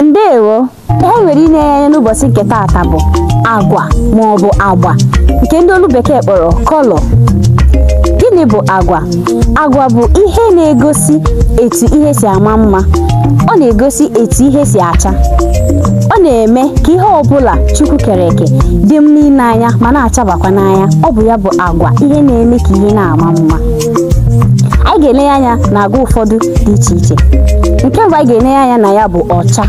ndewo ihe anyị nwere ine anya n'ụbọchị nke taata bụ agwa ma ọ bụ agba nke ndị olu bekee kpọrọ color gịnị bụ agwa agwa bụ ihe na-egosi etu ihe si ama mma ọ na-egosi etu ihe si acha ọ na-eme ka ihe ọbụla chukwu kere eke dị mma ile anya ma na-achabakwa n'anya ọ bụ ya bụ agwa ihe na-eme ka ihe na-ama mma anyị ga-ele anya na agwa ụfọdụ dị iche iche nke mbụ anyị ga-ele anya na ya bụ ọcha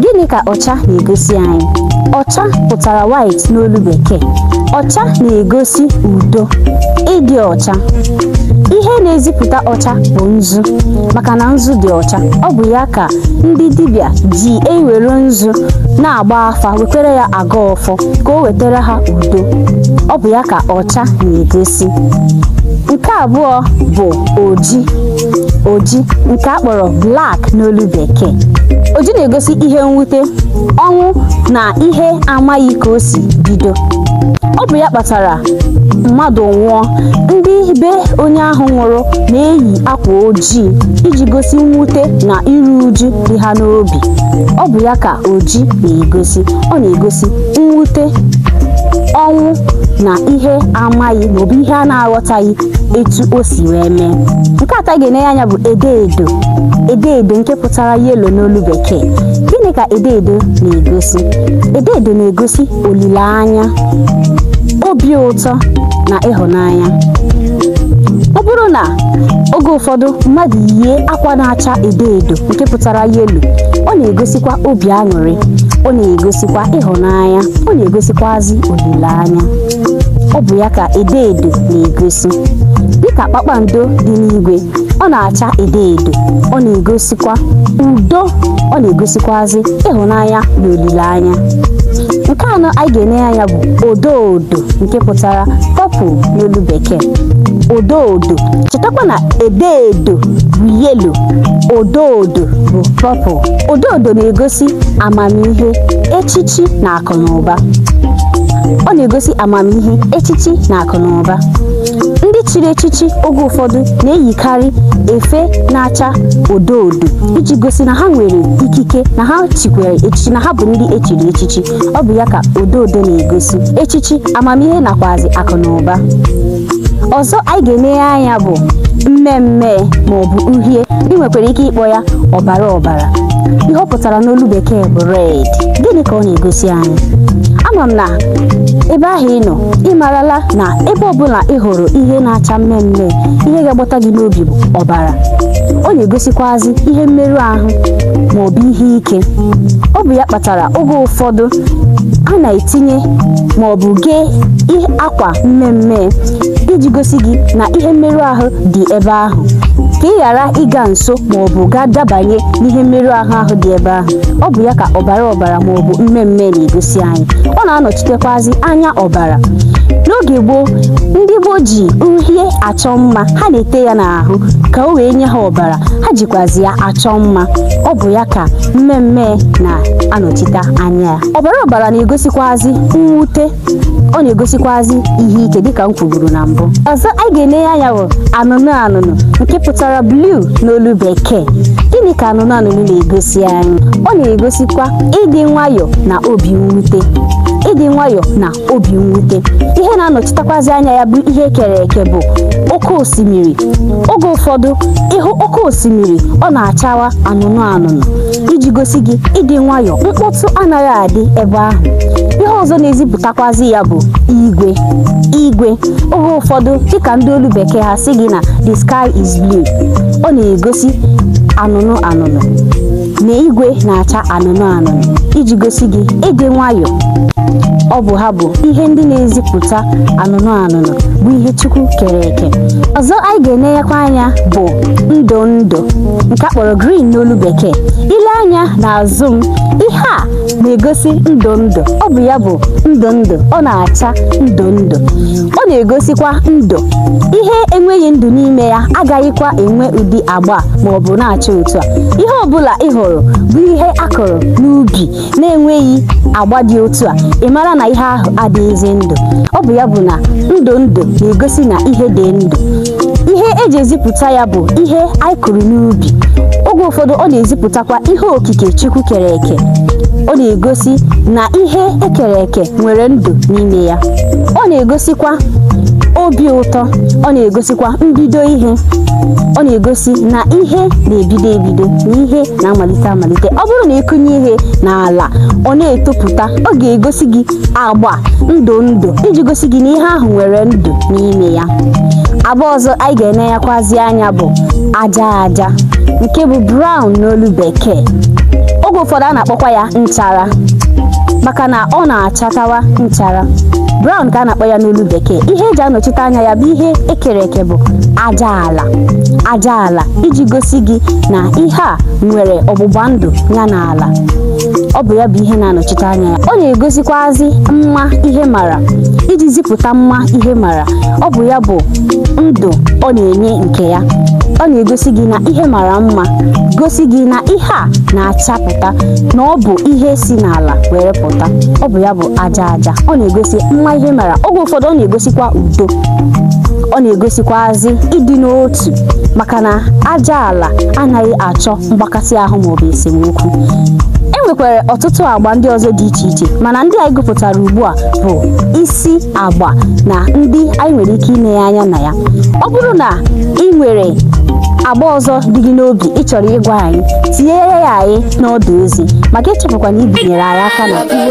gịnị ka ọcha na-egosi anyị ọcha pụtara white n'olu bekee ọcha na-egosi udo ịdị ọcha ihe na-ezipụta ọcha bụ nzu maka na nzu dị ọcha ọ bụ ya ka ndị dibịa ji ewere nzu na-agba afa wekwere ya agọ ọfọ ka o wetara ha udo ọ bụ ya ka ọcha ọcha na-egosi nke abụọ bụ oji oji nke a kpọrọ black n'olu bekee oji na-egosi ihe mwute ọnwụ na ihe amaghị ka o si bido ọ bụ ya kpatara mmadụ nwụọ ndị be onye ahụ nwụrụ na-eyi akwa ojii iji gosi mwute na iru uju dị ha n'obi ọ bụ ya ka oji na-egosi ọ na-egosi mwute ọnwụ na ihe amaghị maọbụ ihe a na-aghọtaghị etu o si wee mee nke atọ anyị ga-ene anya bụ edo edo edo edo nke pụtara yellow n'olu bekee gịnị ka edo edo na-egosi edo edo na-egosi olileanya obi ụtọ na ịhụnanya ọ bụrụ na oge ụfọdụ mmadụ yie akwa na-acha edo edo nke pụtara yellow ọ na-egosikwa obi aṅụrị ọ na-egosi sikwa ịhụnanya ọ na-egosikwazi olileanya ọ bụ ya ka edo edo na-egosi dịka kpakpando dị n'igwe ọ na-acha edo edo ọ na-egosikwa udo ọ na-egosikwazi ịhụnanya na olileanya nke anọ anyị ga-ene anya bụ odo odo nke pụtara purple n'olu bekee odo odo chetakwa na edo edo bụ yellow odo odo bụ purple Odo odo na-egosi amamihe, echichi na akụ na ụba. Ọ na-egosi amamihe, echichi na akụ na ụba. Ndị chiri echichi oge ụfọdụ na-eyikarị efe na-acha odo odo iji gosi na ha nwere ikike na ha chikwere echichi na ha bụ ndị e chiri echichi. Ọ bụ ya ka odo odo na-egosi, echichi, amamihe nakwazi akụ na ụba. ọzọ anyị ga-enenye anya bụ mmee mmee ma ọ bụ uhie ị nwekwara ike ịkpọ ya ọbara ọbara ihe ọ pụtara n'olu bekee bụ red gịnị ka ọ na-egosi anyị ama m na ebe ahụ ị nọ ị marala na ebe ọbụla ị hụrụ ihe na-acha mmee mmee ihe ga-agbata gị n'obi bụ ọbara ọ na-egosikwazi ihe mmerụ ahụ ma ọ bụ ihe ike ọ bụ ya kpatara oge ụfọdụ a na-etinye ma ọ bụ gee akwa mmee mmee iji gosi gị na ihe mmerụ ahụ dị ebe ahụ ka ị ghara ịga nso ma ọ bụ gaa dabanye n'ihe mmerụ ahụ ahụ dị ebe ahụ ọ bụ ya ka ọbara ọbara ma ọ bụ mmee mmee na-egosi anyị ọ na-anọchitekwazi anya ọbara n'oge gboo ndị gboo ji uhie achọ mma ha na-ete ya n'ahụ ka o wee nye ha ọbara ha jikwazi ya achọ mma ọ bụ ya ka mmee mmee na-anọchite anya ya ọbara ọbara na-egosikwazi mwute ọ na-egosikwazi ihe ike dịka m kwuburu na mbụ ọzọ anyị ga-enenye anya bụ anụnụ anụnụ nke pụtara blue n'olu bekee gịnị ka anụnụ anụnụ na-egosi anyị ọ na-egosikwa ịdị nwayọọ na obi mwute ịdị nwayọọ na obi mwute ihe na-anọchitakwazi anya ya bụ ihe ekere eke bụ oke osimiri oge ụfọdụ ị hụ oke osimiri ọ na-achawa anụnụ anụnụ iji gosi gị ịdị nwayọọ mkpọtụ anaghị adị ebe ahụ ihe ọzọ na-ezipụtakwazi ya bụ igwe igwe oge ụfọdụ dịka ndị olu bekee ha sị gị na the sky is blue ọ na-egosi anụnụ anụnụ na igwe na-acha anụnụ anụnụ iji gosi gị ịdị nwayọọ ọ bụ ha bụ ihe ndị na-ezipụta anụnụ anụnụ bụ ihe Chukwu kere eke ọzọ anyị ga-enenyekwa anya bụ ndụ ndụ nke a kpọrọ green n'olu bekee i lee anya n'azụ m ihe a na-egosi ndụ ndụ ọ bụ ya bụ ndụ ndụ ọ na-acha ndụ ndụ ọ na-egosikwa ndụ ihe enweghị ndụ n'ime ya agaghịkwa enwe ụdị agba ma ọ bụ na-acha otu a ihe ọ bụla ị hụrụ bụ ihe a kụrụ n'ubi na-enweghị agba dị otu a ị mara na ihe ahụ adịghịzi ndụ ọ bụ ya bụ na ndụ ndụ na-egosi na ihe dị ndụ ihe eji ezipụta ya bụ ihe anyị kụrụ n'ubi oge ụfọdụ ọ na-ezipụtakwa ihe okike Chukwu kere eke ọ na-egosi na ihe ekere eke nwere ndụ n'ime ya ọ na-egosikwa obi ụtọ ọ na-egosikwa mbido ihe ọ na-egosi na ihe na-ebido ebido na ihe na-amalite malite ọ bụrụ na ị kụnye ihe n'ala ọ na-etopụta ọ ga-egosi gị agba ndụ ndụ iji gosi gị na ihe ahụ nwere ndụ n'ime ya agba ọzọ anyị ga-enenyekwazi anya bụ aja aja nke bụ brown n'olu bekee oge ụfọdụ a na-akpọkwa ya nchara maka na ọ na-achatawa nchara brown ka a na-akpọ ya n'olu bekee ihe e ji anọchite anya ya bụ ihe e kere eke bụ aja ala aja ala iji gosi gị na ihe a nwere ọgbụgba ndụ ya na ala ọ bụ ya bụ ihe na-anọchite anya ya ọ na-egosikwazi mma ihe mara iji zipụta mma ihe mara ọ bụ ya bụ ndụ ọ na-enye nke ya ọ na-egosi gị na ihe mara mma gosi gị na ihe a na-achapụta na ọ bụ ihe si n'ala were pụta ọ bụ ya bụ aja aja ọ na-egosi mma ihe mara oge ụfọdụ ọ na-egosikwa udo ọ na-egosikwazi ịdị n'otu maka na aja ala anaghị achọ mgbakasị ahụ maọbụ esemokwu e nwekwara ọtụtụ agba ndị ọzọ dị iche iche mana ndị anyị gụpụtara ugbu a bụ isi agba na ndị anyị nwere ike inenye anya na ya ọ bụrụ na ị nwere agba ọzọ dị gị n'obi ị chọrọ ịgwa anyị tinyere ya anyị n'ọdụ ozi ma gị echefukwana ibinyere anyị aka na igbo